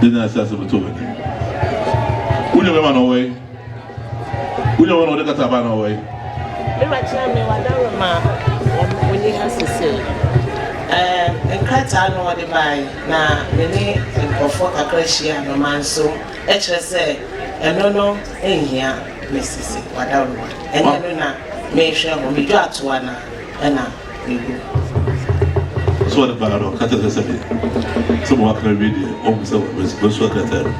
de na asase bɛtɔ w'ani wo nua bɛma na ɔwɔ yi wo nua bɛma na ɔde kata aba na ɔwɔ yi. mema kyerɛ me wadaro ma ɔni ha sese nkrataa no ɔde bae na me ne nkurɔfoɔ kakra hyia no ma nso ɛkyerɛ sɛ ɛno no nhia me sese wadaro ma ɛnyɛ no na mehwɛ ho medwo atoa na ɛna So ɔde baa no ɔka kyerɛ sɛ sɛdeɛ sɛ mo wakra wie deɛ ɔhu sɛ wɔsu akrataa no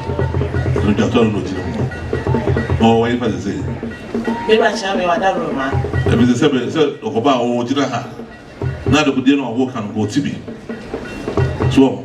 ɛno dwatɔ no na ɔgyina mu na ɔwɔ yɛ fa sɛ sɛ ɛbi sɛ sɛ sɛ ɔkɔba a ɔwɔ gyina ha na adekodeɛ no ɔwɔ ka no ɔte bi so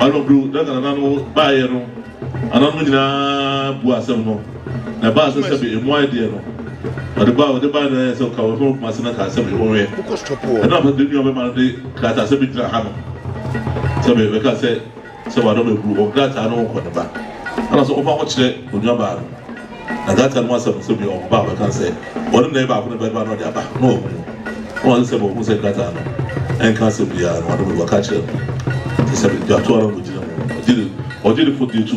ɔno bro na nana no baayɛ no ananom nyinaa bu asɛm no na ɛbaa sɛ sɛ bɛ emu ayɛ deɛ no ɔde ba ɔde ba na ɛyɛ sɛ ɔka wɔfɛn kuma se na ka asɛm ɛwɔ wɛ ɛna afɔ de nua bɛma no de krata asɛm bi gyina ha no sɛ bɛ bɛka sɛ Sɛ w'ano bɛburu wɔ nkrataa no ho kɔ ne ba ana sɛ ɔfa ho kyerɛ onua baa no na nkrataa no mu asɛm no sɛ bia ɔba a ɔbɛka sɛ ɔne nai baako ne bɛba na ɔde aba na wahu mu na wase sɛ ma ɔhu sɛ nkrataa no ɛnka asɛm biara no w'ano bɛburu aka kyerɛ no te sɛ bɛtwa to ara na ɔgyina mu ɔgyere ɔgyerefo deɛ tu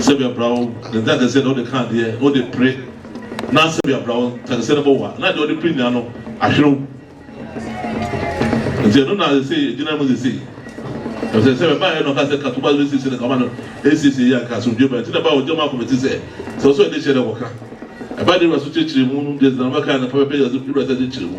Sɛbea bra wo ntakɛseɛ na wode ka adeɛ na wode pere na sɛbea bra wo ntakɛseɛ no bɔwa na deɛ wode pere nyinaa no ahwere wo nti ɛno na sesei ɛgyina mu sesei ɛfisɛ sɛ bɛbaeɛ no ɔka sɛ katoba no bɛsiesie no kama no ɛsiesie yɛ anka asomdwe ba nti na ɛbaeɛ ɔgya mu akɔmɛti sɛ sɛ wo sɛ ɔde hyɛ dɛ wɔka ɛbaeɛ de wura so kyerɛkyerɛ mu deɛ sɛ na bɛka no fa bɛpɛ yɛ so wura sɛ de kyerɛ mu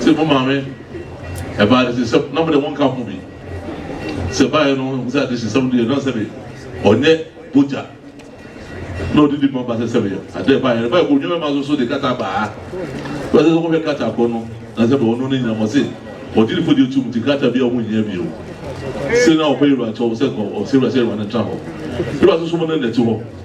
sɛ mo maame ɛbaa de sisɛm na mo de mo nka ho bi sɛ baayɛ no ho sɛ ade sisɛm deɛ na sɛ de ɔnyɛ bogya na ɔde di ma ba sɛ sɛ de ade baayɛ no baayɛ kɔ onwuma ma so so de kata baa wɔsɛ sɛ wɔhwɛ kata kɔ no na sɛ de ɔno ne nyinam ɔse ɔde ne fo deɛ tum ti kata bi a wɔn nyɛ bio sɛ na ɔpɛ yɛrɛ akyɛw sɛ ɔsɛ yɛrɛ sɛ yɛrɛ ne tra hɔ yɛrɛ asoso mo ne nɛte hɔ.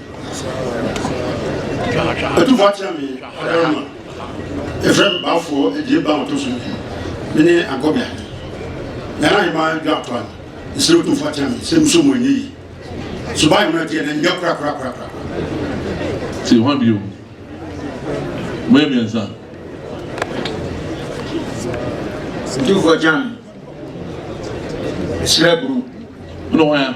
Ɛtufo akyerɛ me Adarama. Yɛfrɛ me Baafoɔ Adie Ba Ɔtɔ so Mmienu. Me ne Agobia. Yɛn ahemmaa adwa ato ano. Mesrɛ wo tufo akyerɛ me sɛ muso mu ɛnyɛ yie. Suban mmerɛ teɛ na ɛnyɛ korakorakorakora. Te hɔ bio. Moyɛ mmiɛnsa. Tufo akyerɛ me. Mesrɛ bro. Wone hwan a?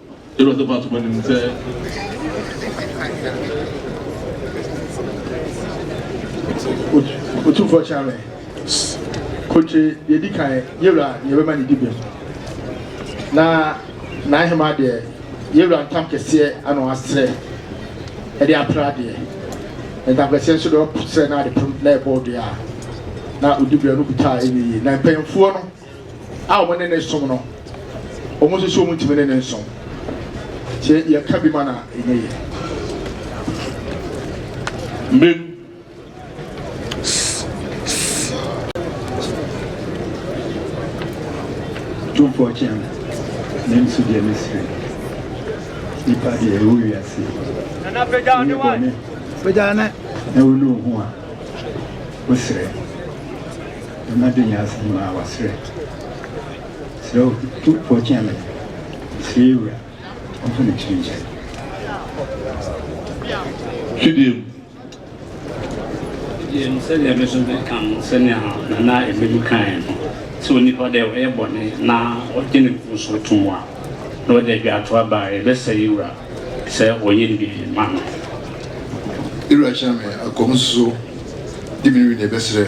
Yɛwura tɔfo ato m'anim sɛ. Otumfoɔ kyerɛ me. Kontire deɛ di kan yɛwura deɛ bɛma ne di bem. Na n'ahema deɛ yɛwura ntam kɛseɛ ano asrɛ ɛde apra deɛ. Ntam kɛseɛ nso deɛ ɔsrɛ na ade pem na ɛbɔ deɛ a na odi bem no kuta ɛnyɛ yie. Na mpanyinfoɔ no. a wɔne no som no, wɔn nso so wɔntumi ne no nsom. Sɛ yɛka bi ma no a, ɛnyɛ yie. Mmem, tumfoɔ kyɛn ne nso deɛ ne sere nipa deɛ ɛwɔ wiase ne bɔne na wone wo ho a wosrɛ Mema do nyansa nyinaa wɔ serɛ. Serɛ wo tu po kyea me. Mesrɛ yɛ Wura ɔmfa m'akyiri nkyɛ me. Fidie mu. Fidie mu sɛdeɛ me nso meka no sɛnea Nana Ɛmɛli kaeɛ no sɛ onipa dɛ ɔyɛ bɔne na ɔgye ne mfomsoɔ to mu a na ɔde adwaatoa ba a yɛbɛsɛ yɛ Wura sɛ ɔyɛ no biribi ma no. Yɛ Wura hyɛ me akɔm nsusuo de me nwi na yɛbɛserɛ.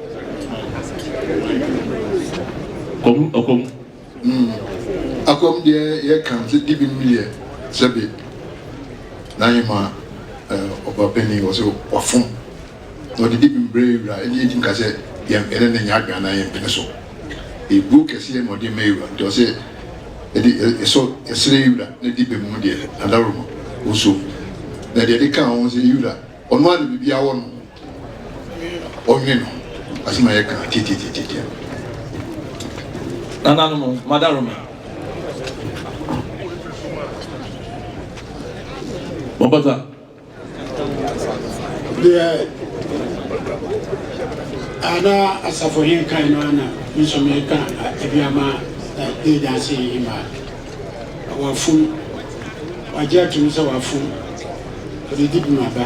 Kom ɔkom. Mm. Akom deɛ yɛ kan sɛ di bi mmiyɛ sɛ bi na hema eh, ɔba pɛni wɔ sɛ wafom na ɔde di bi mbrɛ ewura ɛne yɛtim ka sɛ yɛ ɛne ne nyɛ adwene anaa yɛ mpene so eburo kɛseɛ na ɔde ma ewura nti ɔsɛ ɛde ɛsɔ ɛsrɛ ewura na di bi mu deɛ adaroma oso na deɛ ɛde ka ho sɛ ewura ɔno a na bibia wɔ no Ɔnwe no asem ayɛ kra tiatiatiatia. Nananom mada roma. Mabata. Deɛ ana asafo he kan no ana nso meka ebi ama ɛdi danse yi ma wafum wagye atum sɛ wafum ɔde di bi ma ba.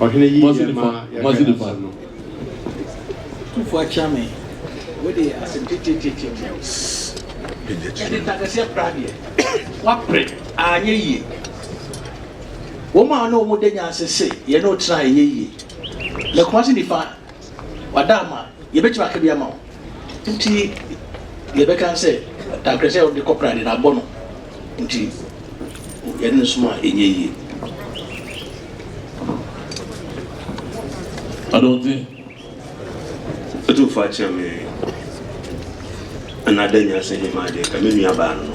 Ɔhene yi yɛ ma yɛhwɛ asɛm no. Kufu akyia me wei deɛ asɛm titititi deɛ ɛde ntakɛseɛ kora deɛ wapere anyɛ yie wɔn a ɔne wɔn da nyanse se yɛne ɔtena ɛnyɛ yie na kumase nifa Wada ama yɛbɛtumi aka bi ama wo nti yɛbɛka no sɛ tankerɛ sɛ wode kɔ prade no abɔ no nti yɛde no som a ɛnyɛ yie. Adɔnte atumfoɔ akyerɛ me ɛna ada nyinaa sɛ hema adeɛ ka me nua baa no no.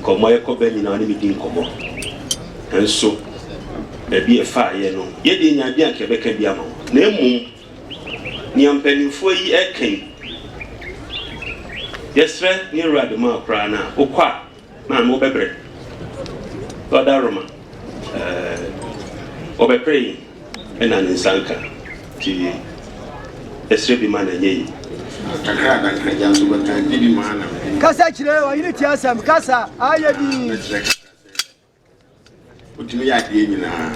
Nkɔmmɔ a yɛkɔ bɛ nyinaa ɔne me di nkɔmmɔ. Nanso baabi a ɛfaa yɛn no, yɛn deɛ yɛnnya adeɛ a anka yɛbɛka bi ama wɔn. Na mmom, nea mpanimfoɔ yi reka yi, yɛsrɛ ne yɛwura de ma wo koraa no a, wokɔ a, maame wobɛbrɛ. Ɔda Roma, ɛɛ, wɔbɛpere yɛn. Ɛna ne nsa nka nti ɛsrɛ bi ma na ɛnyɛ yi. Kakra na nkagya nso bɛka gye bi ma na mede. Kasa kyerɛ ɔyere tie asɛm kasa ayɛ bi. Mɛkyerɛ kakra sɛ wotumi yɛ adeɛ nyinaa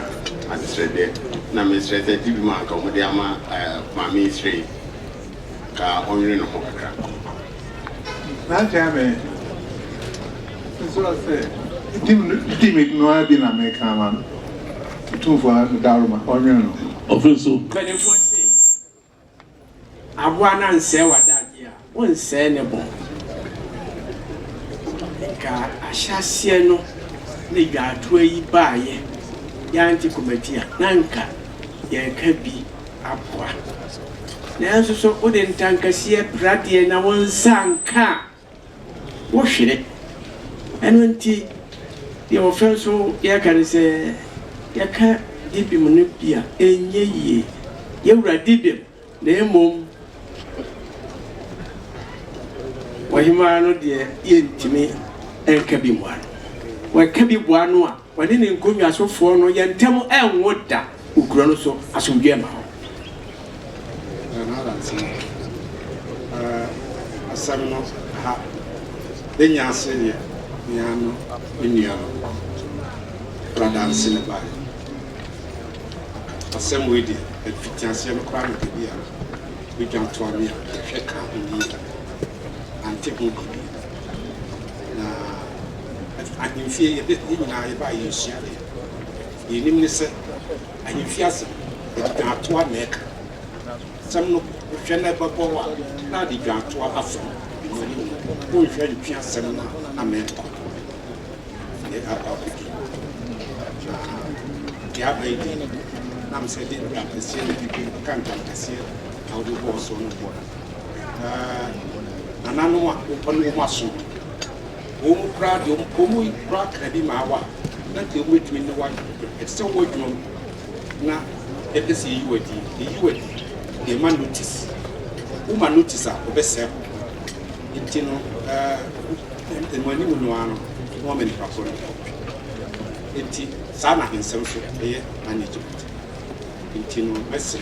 asesrɛdeɛ na mesrɛ sɛ gye bi ma nka wɔde ama maame srɛ yi. ka ɔnwene ne ho kakra. Saa nkyɛn ara me nso a sɛ tim no di me no ara bi na meka ama no Otumfoɔ no daworo ma ɔnwene no ho. Afei nso. Mpanimfoɔ se, Aboa no ansɛe w'adagyeɛ a, wonsɛe ne bɔn. Nka ahyɛaseɛ no ne dwaatoa yi baeɛ, yɛante Komatia na nka yɛreka bi. aboa. Nanso so wode ntankaseɛ pira deɛ na wo nsa anka a, wohwere. Ɛno nti, deɛ wɔfrɛ nso yɛka ne sɛ, yɛka Dibem no bi a, ɛnyɛ yie. Yɛwura Dibem, na mmom Ɔhemaa no deɛ yɛntumi nka bi mmoa no. Wɔka bi boa no a. Ɔne ne nkonnwa sofoɔ no yɛ ntam ɛnwo da wɔ kuro no so, asomdwoeɛ mma hɔ. Ɛno ara nti, asɛm no ha bɛnya ase deɛ mea no me nua no kura danse na ɛbaeɛ. Asɛm wei deɛ, ɛfitiaseɛ no koraa na baabi a bɛdwa toa me a, mehwɛ kaa ho yie. ante ho biribi. Na ahemfie, yɛde yɛn nyinaa yɛbaa yɛ nsua deɛ deɛ yɛnim ne sɛ ahemfie asɛm yɛde dwantoa na ɛka sɛm no wohwɛ na ɛbɛbɔ wo a na ade dwantoa afam ɛmu anim no wonhwɛ ntwe asɛm no a na mɛkɔ yɛ akɔ akɔdi na deɛ aba yi deɛ nam sɛ de ntamkɛseɛ na ɛka ntamkɛseɛ a wobɛbɔɔ so no Na nananom a wɔpɛ no wɔn aso. Wɔn koraa deɛ wɔn mu koraa kaa bi maa wo a, na nka wɔbɛtumi ne wo ayɛ pɛpɛpɛ. Ɛte sɛ wo adwuma mu na yɛpɛ sɛ yɛyi wo adi. Yɛyi wo adi, yɛma notice. Woma notice a, wɔbɛsɛe wo. Nti no, ɛɛ, mo anim no ara no na wɔama nnipa korɔ no kɔ. Nti saa na ahensɛm nso ɛyɛ na ne Egypt. Nti no, mɛsrɛ.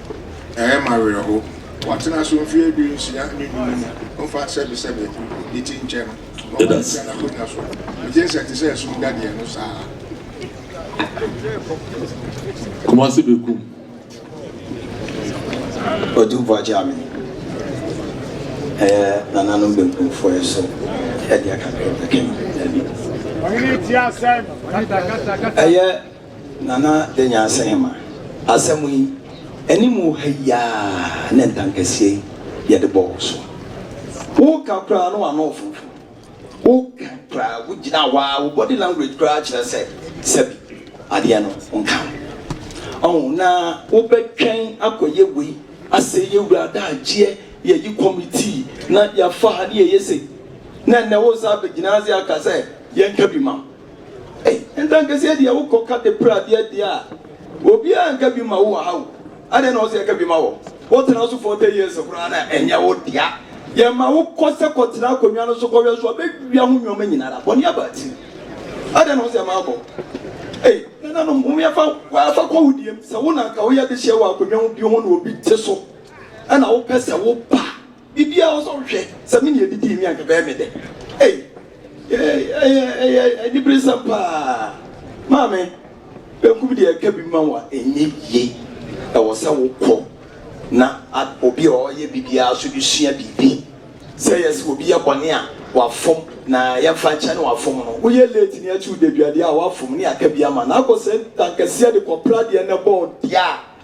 Ɛyɛ me awerɛhow. Wɔatena so mfe aduonsia ne du no mu, wɔmfa sɛbesɛbe ne ti nkyɛ no, na wɔantua n'akonnwa so. Migye nsɛ te sɛ sum dadeɛ no saa ara. Kumasi bekum Odu Boagyame ɛyɛ nananom benkumfoɔ yi so ɛdeɛ kakra bi kɛn. Dabi. Ɔhene tie asɛm. Kata kata kata. Ɛyɛ. Nana Danyansehema, Asɛm yi, anim wɔ ha yi ara na ntankasie yi yɛde bɔɔ wo so. Woka koraa na w'ano refonfo. Woka koraa, wogyina hɔ ara, wo body language koraa kyerɛ sɛ sɛbi adeɛ no nka wo. Ɔho, na wobɛtwɛn akɔyɛ wei, asɛe yɛn wura adagyeɛ, yɛayi committee na yɛafa ha ne yɛyɛ sei, na ɛnnɛ wo san bɛgyina ase aka sɛ yɛnka bi ma wo. Ei, ntankaseɛ deɛ wokɔ ka de pra adeɛ deɛ a, obiara nka bi ma wo wɔ ha o. Adɛn na ɔsɛ yɛka bi ma wɔ? Wotena so 40 years koraa na ɛnyɛ wo dea. Yɛma wo kɔ sɛ kɔtena akonnwa no so kɔwɛ so a, bɛwia ho nnoɔma nyina ara. Bɔne aba akyiri. Adɛn na ɔsɛ yɛma wokɔ? Ei, nananom, momyɛ fa waa fa kɔ wo deɛm. Sɛ wo na anka woyɛ dehyeɛ wɔ akonnwa ho bio ho na obi te so na wopɛ sɛ woba a, Biribiara wɔ so hwɛ sɛ me nea edidii mi anka bɛyɛ me dɛ ei ɛyɛ ɛyɛ aniberesɛm paa maame benkum deɛ ɛka bi ma wa ɛnyɛ yie ɛwɔ sɛ wokɔ na obi a ɔyɛ biribiara so de sua biribi sɛ yɛ sɛ obi yɛ bɔne a wafom na yɛmfa nkyɛ ne wafom no woyɛ late ne akyi wodaduadeɛ a wafom ne aka bi ama na akɔ sɛ ntankɛseɛ de kɔpra deɛ na ɛbɔɔ deɛ a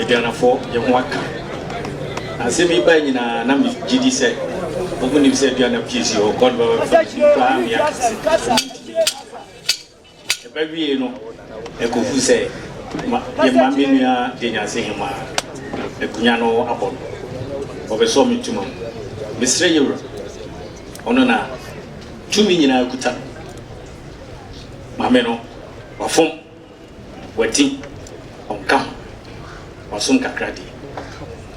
Aduanafo yɛ ho aka. Na asɛm yi bae nyinaa na migye di sɛ wɔn mu nim sɛ aduana pii si hɔ, God bɛba bɛfa ne din koraa me aka sɛ ɛso ntumi nyɛ papa. Ɛba wiei no, ɛkɔfu sɛ ma, yɛma me nua Denyase Hemaa akonnwa no abɔ no. Wɔbɛsɔɔ me ntoma mu. Mesrɛ yɛn Wura, Ɔno na tumi nyinaa kuta no, ma me no, wafom. W'adi, ɔnka ho, wasom kakra deɛ.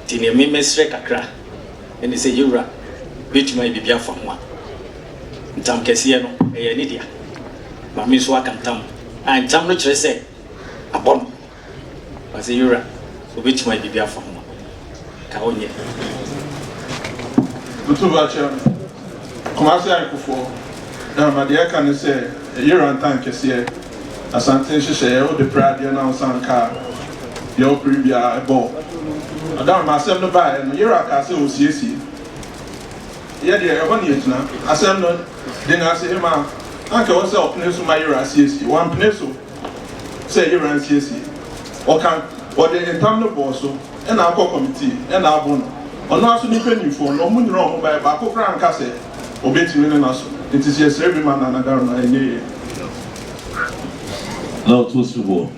Nti deɛ me mɛsrɛ kakra ne sɛ yɛn Wura bɛtumi ayɛ biribi afa ho a, ntam kɛseɛ no ɛyɛ ne dea. Maame nso aka ntam, a ntam no kyerɛ sɛ abɔ no, na sɛ yɛn Wura ɔbɛtumi ayɛ biribi afa ho a. Ka wo nyɛ. Doto Bakyem, Kumase Ayekofoɔ, na ma deɛ ɛka ne sɛ ɛyɛ rantan kɛseɛ, Asante nhyehyɛeɛ, wode pere adeɛ na wosan ka a, deɛ wopere biara ɛbɔ wo. Madam, ma asɛm no baeɛ no, yera kaa sɛ ɔresiesie. Yɛ deɛ, ɛhɔ na yɛgyina. Asɛm no, Denase Hemaa, anka ɛwɔ sɛ ɔpene so ma yera siesie. Wampene so. sɛ yera nsiesie ɔka ɔde ntam no bɔɔ so ɛna akɔ kɔmitii ɛna abo no ɔno aso ne mpanyinfoɔ no ɔmo nyina ɔmo baɛ baako koraa anka sɛ ɔbɛtumi ne naso nti sɛ yɛsrɛ bi ma Nana Darma ɛnyɛ yɛn. Na ɔtɔ su hɔ.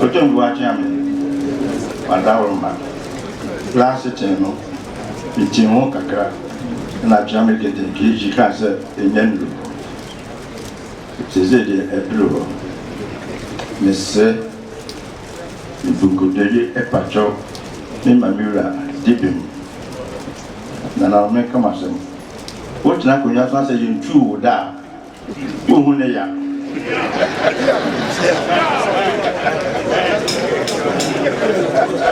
Ɔtɔn Boakye Ame. M'adaworoma, bere ase tee no, mitee ho kakra na tua me kete keegi kaa sɛ ennya nnuru. Seesei deɛ aduru hɔ. Mesrɛ nkonkodoeɛ epakyɛw me ma me wura di bem. Nana, menka m'asɛm. Wontena akonnwa so na sɛ yentuu wo da a, Wohu ne ya.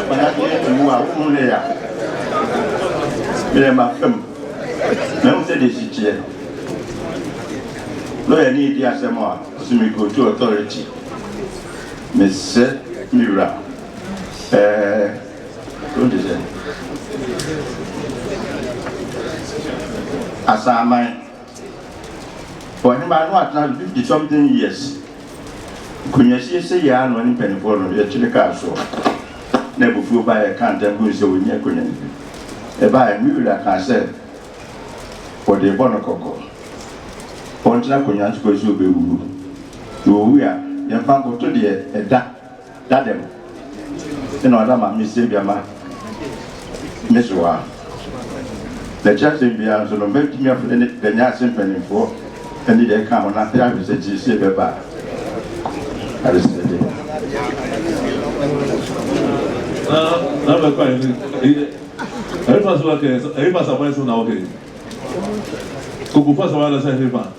Mana deɛ ewu a wohu ne ya. Meyɛ ma fam. Na ehu sɛ deɛ si kyeɛ no. Lawyer ni di asɛm a ɔsi me go to authority. Me sɛ me wura ɛɛ o de sɛ asaaman. Ɔhemaa no atena ase fifty something years. Nkonwa siesiei ara na ɔne mpaninfoɔ no yɛkyere kaa soɔ. Na abufuo baeɛ a yɛkaa ntam gui sɛ ɔnyi akonwa no bi. Ɛbaeɛ no me wura kaa sɛ ɔde rebɔ no kɔkɔ ɔntena akonwa no so kɔsi sɛ ɔbɛwuo. Na ɔwu a yɛmfa nkoto deɛ ɛda Dadɛm na ɔda ma me sɛ biama me so a, na ɛkyerɛ asɛm biara nso no, mɛtumi afrɛ ne da nya ase mpanimfoɔ ne deɛ ɛka ho no apere ahwɛ sɛ gyee sie bɛba a adesrɛdeɛ. Na na bɛ kwan ni eye ɛyɛ fa so wa kɛ ɛyɛ fa sa bɔ ɛsɛ na ɔkɛ koko fa sa wa na sa ɛyɛ fa.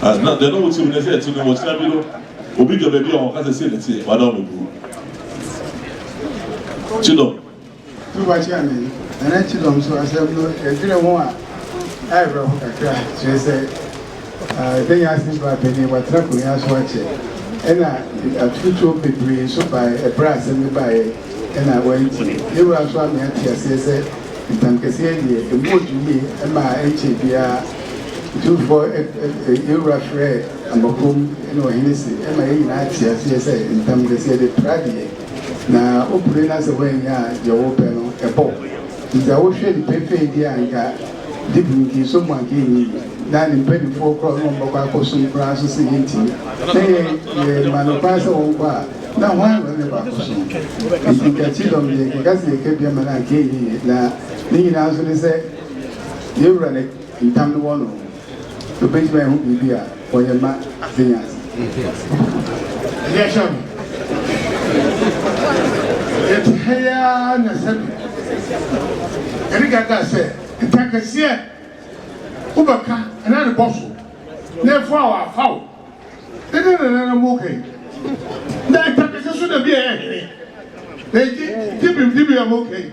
As na dɛn na wɔte mu ne sɛ ɛte no, ɔkyena bi no, obi dwa baabi a wɔka sɛ sei na ɛteɛ, wɔada wɔn agu hɔ. Kyedɔm. Tuba Kyane, Nana Kyedɔm nso asɛm no ɛdwene ho a ayɛ awerɛho kakra, kyerɛ sɛ ɛbɛnya ase berɛ a panin watena akonnwa so akyɛ, ɛna atutuo bebree nso baeɛ ɛberɛ a asɛm no baeɛ ɛna wɔantie. Yɛn wura nso amee ate aseɛ sɛ ntamkɛseɛ deɛ, ɛmu ɔdwo yie ɛmaa ɛnkyɛɛ biara Otumfoɔ yɛn Wura frɛɛ Ambakom ne Ɔhene se ɛma yɛn nyinaa te aseɛ sɛ ntam de sɛ yɛde pra deɛ na wopere na sɛ woannya a deɛ wopɛ no ɛbɔ wo nti sɛ wohwɛ no pefee deɛ a anka Dib nkinso mu anka ɛnyɛ yie na ne mpaninfoɔ korɔ na wɔbɛkɔ akɔsom koraa nso se yɛntumi na yɛ yɛma no kwan sɛ wɔnkɔ a na hwan na ɔne kɔ akɔsom nti nka kyidɔm deɛ nka sɛ yɛka bi ama no anka ɛnyɛ yie na ne nyinaa nso ne sɛ Yɛn Wura ne ntam no wɔ no ho, Obegyina ɛho biribi a ɔyɛ ma adze nye adze. Ɔbɔkɔ so ahyira mo. Yɛtse ha yi ara na sɛbe Yɛne Gaga sɛ nta kɛseɛ wo bɛka na ne bɔ so na efo a wafa wo ne ne nananom wo ka yi na nta kɛseɛ so na bi a ɛyɛ hene na egye gyebim gyebim a mo ka yi.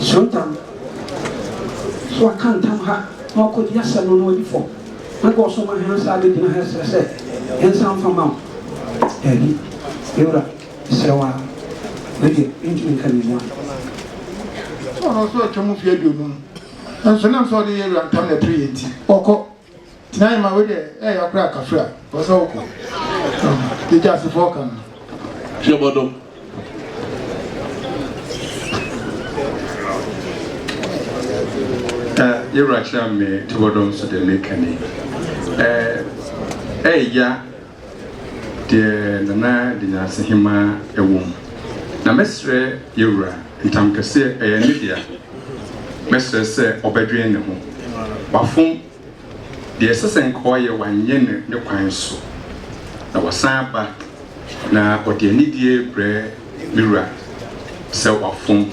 So ntam, so waka ntam ha na wakɔdi asɛm no na wadi fɔ? Anka ɔsoma hɛn asaa abegyina ha reserɛ sɛ yɛnsan mfa mma wo? Daabi, me wura, meserɛ wo ara, me deɛ mentumi nka me mua. Sɛ ɔno nso atwam mfe aduonum, nanso nam sɛ ɔde yɛn wura ntam na ɛpere yɛn nti, ɔkɔ. Nyae ma wei deɛ ɛyɛ ya koraa kafre a ɛwɔ sɛ wokɔ deɛ Gyasefoɔ ka no. Hwɛ bɔdɔ. Eh, yɛwura kyerɛ me te bɔdɔ nso deɛ meka ni. Eh, ɛyɛ ya Deɛ na na de nyansa hemaa wɔ mu. Na mɛsrɛ yɛ wura ntamkɛseɛ ɛyɛ ne dea mɛsrɛ sɛ ɔbɛdwen ne ho wafom deɛ ɛsɛ sɛ nka ɔyɛ wanyɛ no ne kwan so na wasan aba na ɔde anidie brɛ me wura sɛ wafom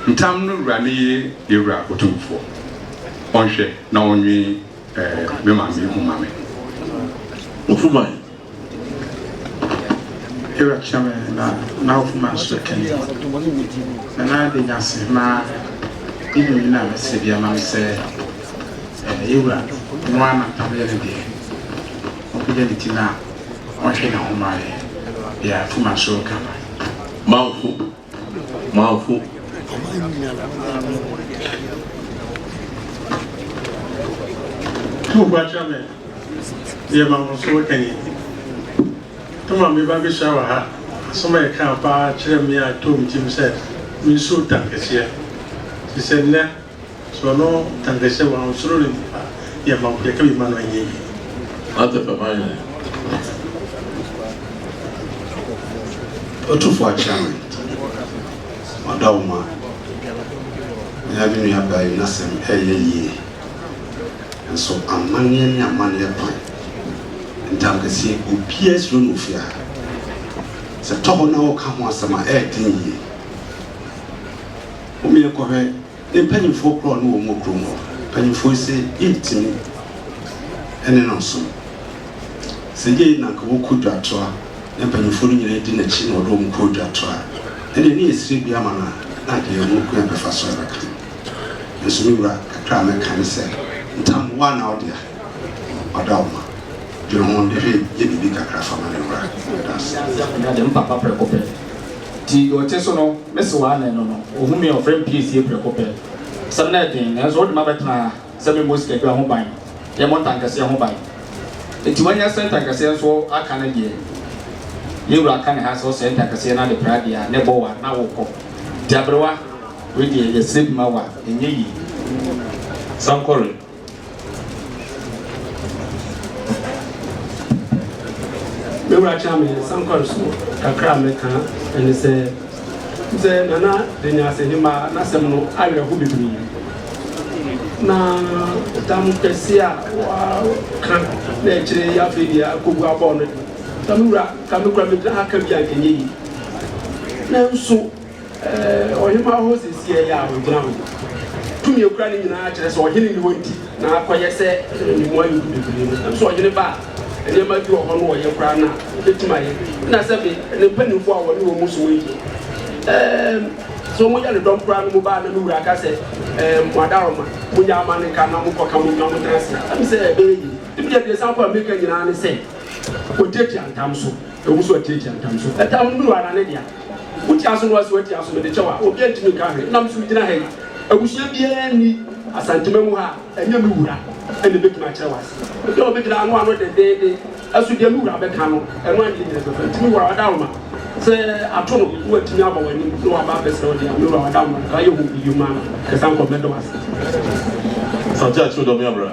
ntam no wura no ye yɛ wura otumfoɔ ɔnhwɛ na ɔnwen Eh me maame ehu ma me. Ofuma yi. Ewura kyerɛ me na na ofuma nso kɛn. Na na de nya se ma inu yi na me se bi ama me sɛ eh ewura no ana tam yɛ ne deɛ. Ɔpagya ne ti na ɔhwe ne ho ma yɛ deɛ ofuma nso reka no. Manfo. Manfo. School ba kyerɛ me yɛ ma mo so ɛni toma me ba bɛhyia wɔ ha asɛm a ɛka paa kyerɛ me a ɛtɔ me tirim sɛ me nsuo ta kɛseɛ te sɛ nnɛ So ɔno anka sɛ wansoro no nti na yɛma wo, yɛka bi ma no a ɛnyɛ yie? Ate fa ma yɛn. Ɔtufo akyea me. Ɔda wo ma. Mena me nua baa yi nasɛm ɛyɛ yie. Nso amanneɛ ne amanneɛ kwan. Ntamkɛseɛ obiaa suro no ofie ha. Sɛ tɔhɔ na ɔɔka ho asɛm a ɛɛden yie. Hom yɛ kɔ hwɛ ne mpanyimfoɔ korɔ no wɔ mo kurom hɔ. Mpanyimfoɔ yi se, Yentumi ne no nsom. Sɛ yei na anka wɔkɔ dwatoa na mpanyimfoɔ no nyinaa di n'akyi na wɔde wɔn kɔ dwatoa a, ɛnneɛ ne yɛsrɛ bi ama no a, na anka yɛn ho kwan bɛfa so abɛka no. Nanso me wura, kakra a mɛka ne sɛ, ntam, wo a na wo dea, wɔada wo ma. Dwene ho, de hwɛ, yɛ biribi kakra fa ma ne wura. Meda wo ase. Nya de, me papa prɛko pɛ. Enti deɛ ɔte so no, me se w'anen no no, ɔhu me a, ɔfrɛ me piesie prɛko pɛ. Asɛm no yɛ den, nanso wode m'abɛtena ha sɛ memmɔ sikadwa ho ban, yɛmmɔ ntankɛseɛ ho ban. Enti woanya sɛ ntankɛseɛ nso aka no deɛ, me wura ka ne ha sɛ ɔsɛe ntankɛseɛ no ade praa deɛ a, na ɛbɔ wo a, na worekɔ. Enti aberewa, wei deɛ yɛsrɛ bi ma wo a, ɛnyɛ yie. Sankore. Me wura kyɛn me sankwari so kakra a mɛka ɛne sɛ sɛ nana de ne asɛnhema n'asɛm no awerɛho bebree na tam kɛse a wɔaka na ɛkyerɛ yi afei deɛ akɔbu abɔɔ no de ka me wura ka me kura mɛgyina ha ka bi a nkɛnyɛ yi nanso Ɔhemmaa hɔ sisiiɛ yɛ a ɔgyina ho. Tumi a ɔkura no nyinaa kyerɛ sɛ ɔhene nni hɔ nti na akɔyɛ sɛ ne mmoa yɛ gu bebree no. Nanso ɔhene ba a, nneɛma bi wɔ hɔ no ɔyɛ koraa no a, ɛbɛtumi ayɛ. Ɛna sɛ me ne mpanimfoɔ a ɔne wɔn som adie, ɛɛm, sɛ wɔyɛ ne dɔm koraa no mu ba a, na me wura ka sɛ, Ɛɛm, mo adaworoma, monyɛ ama no nka na monkɔka mo nnwa montena ase a, ɛm sɛ ɛbɛyɛ yie. Tumi deɛ deɛ ɛsan kɔ Amerika nyinaa ne sɛ, wɔtiatia ntam so. Ɛwom sɛ wɔtiatia ntam so, ɛtam nnuru ara ne dea. Wotia so no wa si watia so mede kyɛ wo a obia ntumi nka hwee nam so gyina ha yi abusua biaa nni Asantema mu ha a ɛnyɛ me wura na ɛbɛtumi akyerɛ wo ase obia ɔbɛgyina ano ano dendeenden ɛso deɛ me wura bɛka no ɛno adeɛ nyina bɛfa ntimi wura wadaroma sɛ ato no na watumi aba w'anim na waba abɛsrɛ wo deɛ me wura wadaroma nka yɛ ho biyom a ɛsan kɔ mɛdɔ ase. Asante akyere dɔ me abra.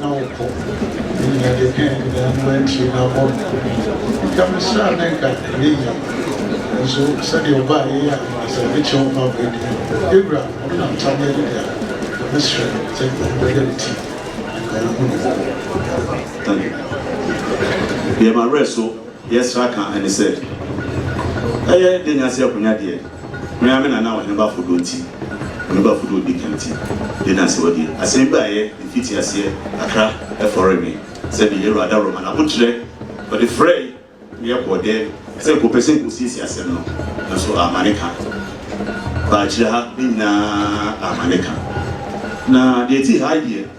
na wokɔ nyina de ka nkwadaa no antiri na abɔ no nka mesrɛ a na nka ɛnyɛ yie nso sɛdeɛ ɔbaa yɛ yɛ a sɛ me kyɛ ɔma abɔ adi yɛwura ɔno na nta ne ade dea na mesrɛ sɛ nka ɔno bɛyɛ me ti nka ɔhu no. Deɛ mawerɛ so. Yesra ka and said, Ɛyɛ de nya se akonya deɛ, me ara me nana a ɔhene bafo dɔ nti, ɔhene bafo dɔ odi kan nti, de nya se ɔdeɛ. Asem bi a ɛyɛ mfiti aseɛ kakra ɛfɔre me sɛ me yɛ Awurada Roma na abokyerɛ ɔde frɛe me yɛ kɔɔ dɛ sɛ nka ɔpɛ sɛ nka ɔsiesie asem no nanso amma ne ka. Ba akyire ha ne nyinaa amma ne ka. Na deɛ ɛti ha deɛ.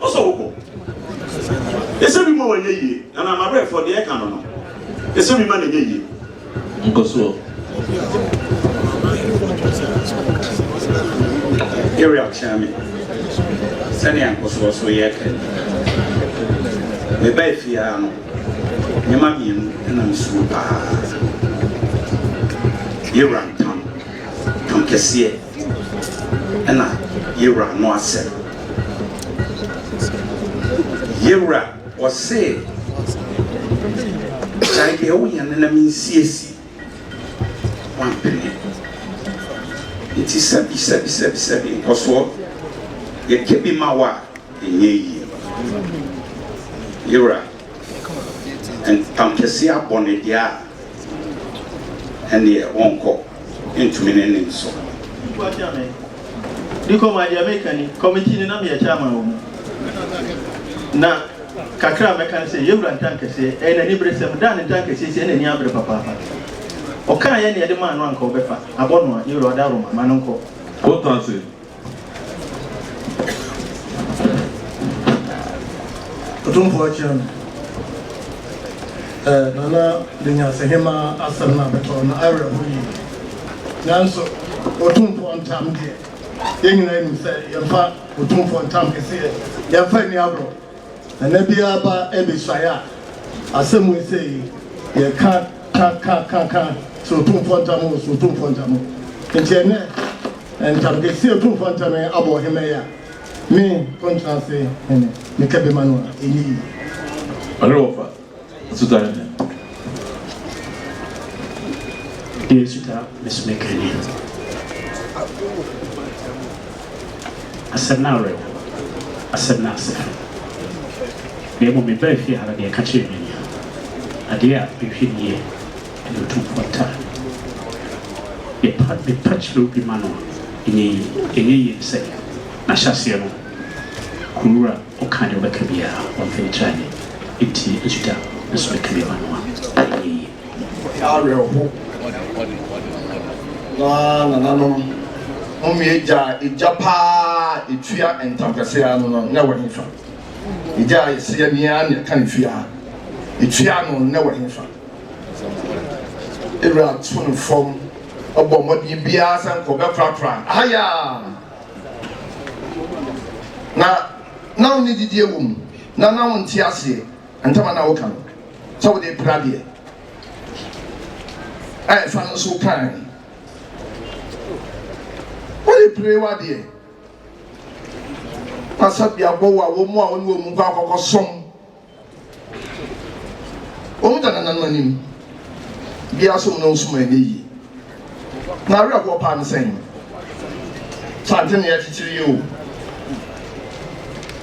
Ɔsɔ wo bo. Ɛsɛ bi ma wɔnyɛ yie. Anaa m'abrɛfoɔ deɛ ɛka no no, ɛsɛ bi ma no nyɛ yie. Nkɔsoɔ. Area kyerɛ me sɛnea nkɔsoɔ so yɛ kɛ. Mebaa efie ara no, nneɛma mmienu na mesuro paa. Yɛwura ntam, ntam kɛseɛ. Ɛna yewura no asɛm. Yewura ɔse gyae deɛ woyɛ no na mensiesie wampene nti sɛbi sɛbi sɛbi sɛbi nkɔsoɔ yɛkɛ bi ma wo a ɛnyɛ yie. Yewura Ntampese abɔ no deɛ a, ɛnneɛ wɔnkɔ ntumi ne ne nso. Nnipa akyea me de kɔ maa deɛ meka ni, kɔmiti no na meyɛ chairman wɔ mu, na kakra a mɛka ne sɛ, yɛwura Ntankɛseɛ, ɛyɛ n'aniberesɛm, da a ne Ntankɛseɛ sie n'ani abere papaapa. Ɔkaa yɛ na yɛde maa no a anka ɔbɛfa, abɔ no a, yɛwura ɔda Roma, ma no nkɔ. Kotase. Otumfoɔ akyia no. Ɛɛ Nana de Nyansahema asɛm no abɛtɔ no, awerɛho yie. Nanso Otumfoɔ ntam deɛ, yɛn nyinaa nim sɛ yɛmfa Otumfoɔ ntam kɛseɛ, yɛmfa nni agorɔ. Ɛnɛ biara ba abɛsuaeɛ a, asɛm wei sei yɛ ka ka ka ka ka sɛ Otumfoɔ Ntam o, sɛ Otumfoɔ Ntam o. Nti ɛnɛ ntam kɛseɛ Otumfoɔ Ntam yi abɔ ɔhemma yi a, me Kontenase Hene, meka bi ma no a, ɛnyɛ yie. Ɔne wɔfa. Asutan no yɛ asutan mesome kane asɛm no awerɛ ho asɛm no ase fam na mmom me baa fie ha no deɛ ɛka kyerɛ me nia adeɛ a mehwɛ ni yɛ ɛna otumfoɔ nta mepa mepa kyerɛ obi ma no ɛnyɛ yie ɛnyɛ yie ne sɛ na hyɛ aseɛ no kuro wura Ɔka ne bɛka biara ɔmfa ne tiri ani ntie Juda nso bɛka bi ama no a, ɛnyɛ yie. Monyɛ awerɛho na nananom mo mmea agya a egya pa ara a etua ntampɛse ara no no nnɛ wɔ hefa? Egya a ese yɛ nea nea ɛka ne fie ara etua no nnɛ wɔ hefa? Ewura to no fam bɔ mmɔden biara sɛ anka ɔbɛkorakora ahaya. na na wo ne didie wɔ mu na na wo nte aseɛ ntama na woka no sɛ wode pra deɛ a ɛfa no so kan wode pere wadeɛ na sɛ biabɔ wɔ a wɔn mu a wɔne wɔn mu kɔ akɔkɔ som Wɔn da nananom anim. Biara sɛ wɔn na wɔsum ɛnyɛ yie. Na awerɛhoɔ paa ne sɛn? Sante ne akyikyiri yi o.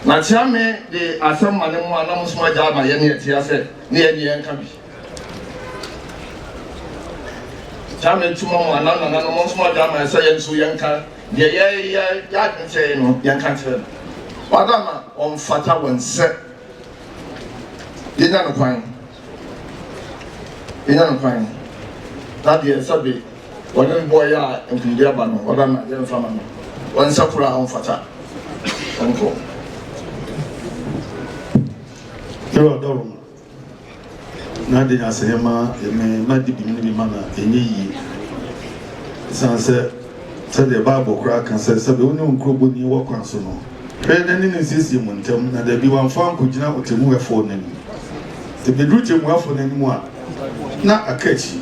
Na Kyeame de asɛm ma ne mu a na mo nso agya ama yɛn ne ɛte asɛ ne yɛn ne yɛn ka bi. Kyeame tuma mu a na nananom mo nso agya ama yɛn sɛ yɛn nso yɛn ka deɛ yɛyɛ yɛ adwene kyerɛ yɛn no yɛn ka kyerɛ no. Wadama ɔmfata wɔn sɛ. Yɛnya no kwan, yɛnya no kwan, na deɛ sɛbe wɔne no bɔeɛ a nkonimdie aba no, wɔbɛma yɛmfa ma no, ɔnsɛ koro a ɔmfata, ɔnkɔ. Yehowa dɔ wo. na ade na sɛ yɛma yɛn mma di bi ne bi ma no a, ɛnyɛ yie. Ɛsiane sɛ sɛdeɛ Bible koraa ka sɛ, sɛdeɛ wo ne wo nkurobɔni wɔ kwan so no, hwɛ na ne no nsiesie mo ntam, na dabi wamfa ankɔgyina ɔtɛmmuafoɔ no anim. Sɛ bɛduru tɛmmuafoɔ no anim a, na aka akyi.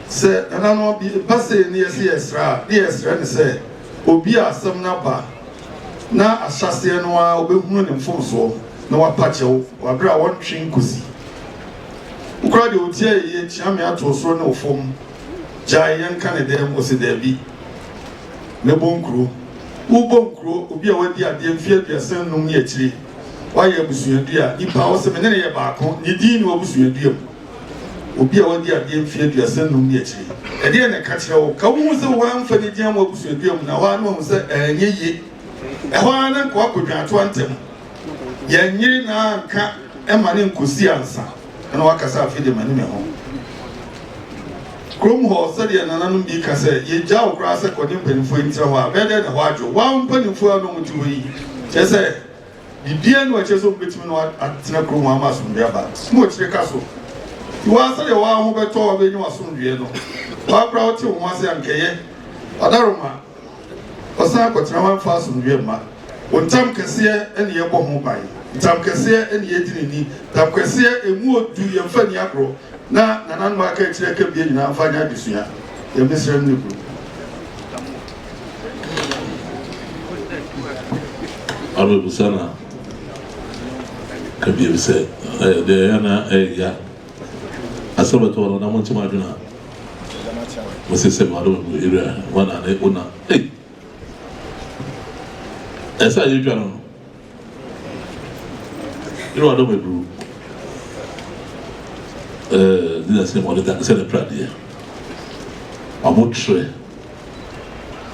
Sɛ nananom bi ba sei ne yɛ sɛ yɛsrɛ a, ne yɛsrɛ no sɛ obi a asɛm no aba na ahyɛaseɛ no ara wobɛhunu ne mfomsoɔ na wapa kyɛw wɔ aberɛ a wɔntwe nkɔsi. Wo koraa deɛ wotie ayɛyie kyea me ato osoro ne ofam gyae yɛnka ne dɛm ɔse daabi mɛbɔ nkuro. Wobɔ nkuro obi a wadi adeɛ mfeɛ aduasa nnum ne akyire wayɛ abusuadua nipa a ɔse mene no yɛ baako ne din ne w'abusuadua mu. Obi a wadi adeɛ mfe aduasa nnum ne akyire yi, ɛdeɛn na ɛka kyerɛ wo? Ka wohu sɛ woamfa no gye amu abusuadua mu na hɔ ara na wahu sɛ ɛnyɛ ye. Ɛhɔ ara na nkoa kɔdwa atoa ntɛm. Yɛnyere na anka ɛma ne nkɔsi ansa na wakasa afei de mani me ho. Kurom hɔ sɛdeɛ nananom bi ka sɛ yɛgya wo koraa sɛ kɔne mpanimfoɔ yi ntena hɔ a bɛyɛ dɛn na hɔ adwo? Wo ara wo mpanimfoɔ a na wɔte hɔ yi kyerɛ sɛ Biribiara nni hɔ a ɛkyerɛ sɛ wobetumi ne wɔn atena kurom hɔ ama asomdwoe aba. Sum akyiri ka so. Yi wo ara sɛnea wo ara ho bɛtɔ wo a wobenya w'asomdwoe no. Wo ara koraa wote wo ho ase a, anka ɛyɛ. Ɔdaroma, Ɔsan akɔtena hɔ amfa asomdwoe amma. Wo ntam kɛseɛ na yɛbɔ ho ban. Ntam kɛseɛ na yɛdi no ni. Ntam kɛseɛ, ɛmu odu, yɛmfa nni agorɔ, na nananom a aka akyire aka abien nyinaa mfa nyɛ adesua. Yɛn mmesrɛ no ne kunu. Abɛbusa na ka biem sɛ, ɛɛ, deɛ ɛyɛ na ɛyɛ ya. Asɛ bɛtɔ no na mo nkyɛm adwene a. Mo se sɛ mmadɔ mu ewura wɔn a ne ona. Ei! Ɛsɛ a yɛdwa no no. Yerɛ ɔdɔ me duru. Ɛɛ ne na se mo ɔdeda sɛ ne pradeɛ. Ɔmo trɛ,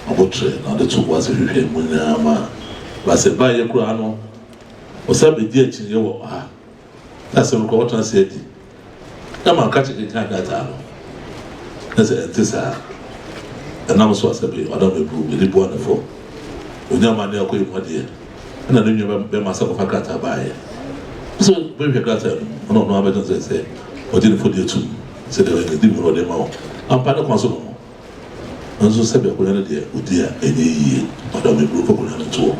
ɔmo trɛ na ɔde to boase hwehwɛ mu nyinaa ma ba sɛ ba yɛ koraa no ɔsan bedi akyinnye wɔ ha. Sɛ asɛm no kɔ ɔtena ase adi Na ma ɔka kyerɛ kenkan krataa no na sɛ ɛnte saa a, ɛnam so a sɛ me, Madam Abruu, mede boa no fɔ. Ɔnya mma ne ɔkɔɛ mu adeɛ ɛna ne nua bɛma sɛ kɔfa krataa baeɛ. Pɛ sɛ ɔbɛhwehwɛ krataa no mu na ɔno ara bɛka sɛ sɛ ɔgye ne fɔ de atum sɛ deɛ ɔyɛ no di mu na ɔde ma wo. Ampa ne kwan so no ho. Nanso sɛ bɛ akonnwa no deɛ ɔdi a ɛnyɛ yie. Madam Abruu, fa akonnwa no nto hɔ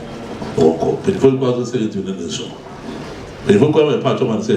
na wɔnkɔ. Mpanyinfoɔ yi kɔ ara sɛ sɛ yɛntumi ne no nso. Mpanyinfoɔ yi kɔ ara ma yɛpaatwɔ ma no sɛ.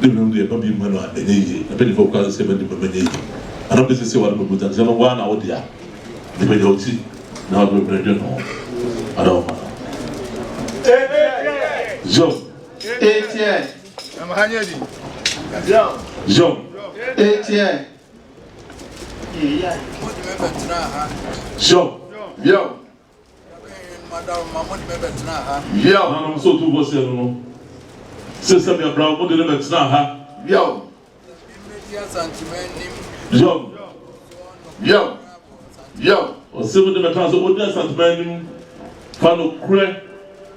Dɛ winom deɛ mma bi mma no a ɛnyɛ yie na mpanyinfoɔ koraa nso sɛ mma nnipa mma ɛnyɛ yie anaa wopɛ sɛ sɛ w'ano bɛbu dam sɛ no woaa na wo dea nti pagya wo ti na wode wo hwene dwene ho anaa wo mma no Job Job Job. Yiaw, Hanam sɛ otumfoɔ sen no no. Sesem, Yɛbra, wɔn de no bɛtenaa ha. Yiaw, Yiaw, Yiaw, Yiaw. Ɔsɛ mo de mɛka sɛ odi Asantuma anim fa nokorɛ.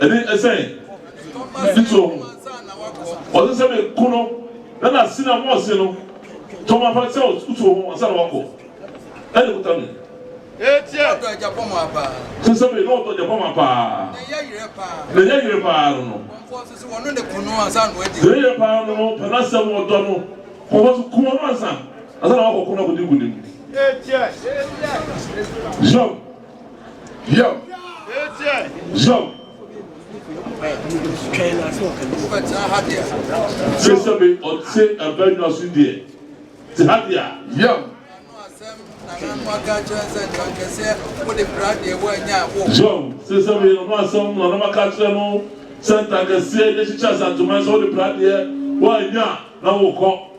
Ɛne sɛ, mede too ho. Ɔse sɛ me ko no na n'ase na mose no tɔ ma fa sɛ wo too ho ansa na wakɔ ɛne kuta me. Kyɛ sɛ me ne ɔdɔ gyapɔ ma paa na ɛyɛ yerɛ paa no no. Yerɛ paa no no pɛ n'asɛm ɔdɔ no kɔ fa so kum ɔno ansa ansa na wakɔ ko no akɔdi nkunim. Job. Yom, yom. Sese me ɔte abɛnwa so deɛ te ha deɛ a. Yom. Yom, sese me ɔno asɛm na ɔnam aka kyerɛ no sɛ ntankɛseɛ yɛ kyekyɛ asanteman sɛ wode pra deɛ woanya na wokɔ.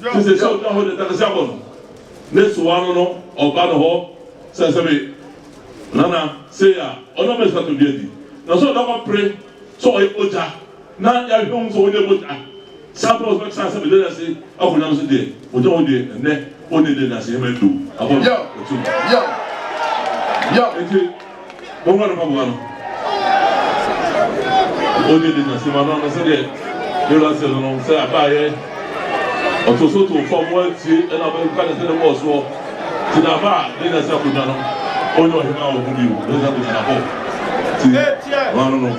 Te sɛ sɛ ɔda hɔ de takasɛ abɔ no ne so ano no, ɔba ne hɔ sɛ, Sɛbe, Nana, sei a, ɔnam bɛ so ato dua di. Nanso ɔda hɔ apere sɛ ɔyɛ bogya, na yɛahwɛ ahu sɛ ɔnyɛ bogya. Saa bere a ɔbɛka sɛ, Sɛbe, Nana, sei a, ɔkɔ Nyame so deɛ, ɔgya hɔ deɛ, ɛnnɛ, ɔnni dɛ, nanso hɛma adu, abɔ no, ɔte mu. Enti. Mommɔ no mpaboa no. Ɔde de na sima no ano sɛdeɛ Yola sɛ no no sɛ abaayɛ ɔto so to fam wɔatie ɛna abɛka ne sɛ ne bɔɔ soɔ ti na aba a de na sɛ akonnwa no ɔnyɛ ɔhema wɔ ho bio de sɛ akonnwa na bɔ ti no ano no.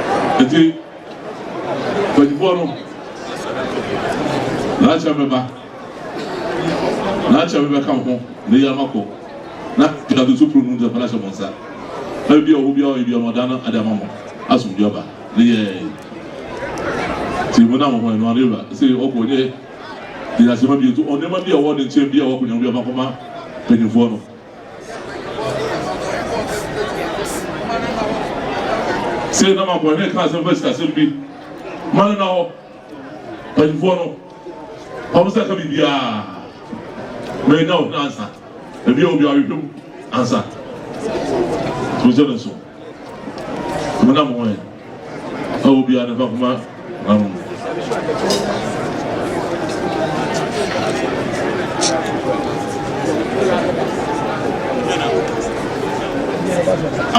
Enti, mpanimfoɔ no, n'akyɛ bɛba, n'akyɛ bɛbɛka mo ho, na eyi ama kɔ, na nkatoo so puro no nti ɛfɔn ahyɛ mo nsa, na biribi a ɔwɔ biara ɔyɛ biara ɔdan no ade ama mo, asomdwe aba, ne yɛɛ. Ti mo nam ho ɛno ano ewura se ɔkɔ ɔnyɛ gyinasema bio nti ɔnneɛma bi a ɔwɔ ne nkyɛn bi a ɔwɔ akɔnya bi ɔfa kɔma mpanimfoɔ no. Sei na ma bɔ hene ka asɛm fa sikasɛm bi ma no na hɔ mpanyinfoɔ no fa mo nsa ka biribiara ma ɛnya ɔhene ansa ɛbia obi awehwɛ mu ansa so sɛ no nso. Mona mo ho ɛ, na obiara ne fa koma ma mo.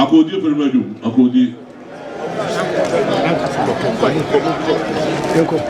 Akodi efiri ma dwom, akodi. Nkɔ, nkɔ, nkɔ.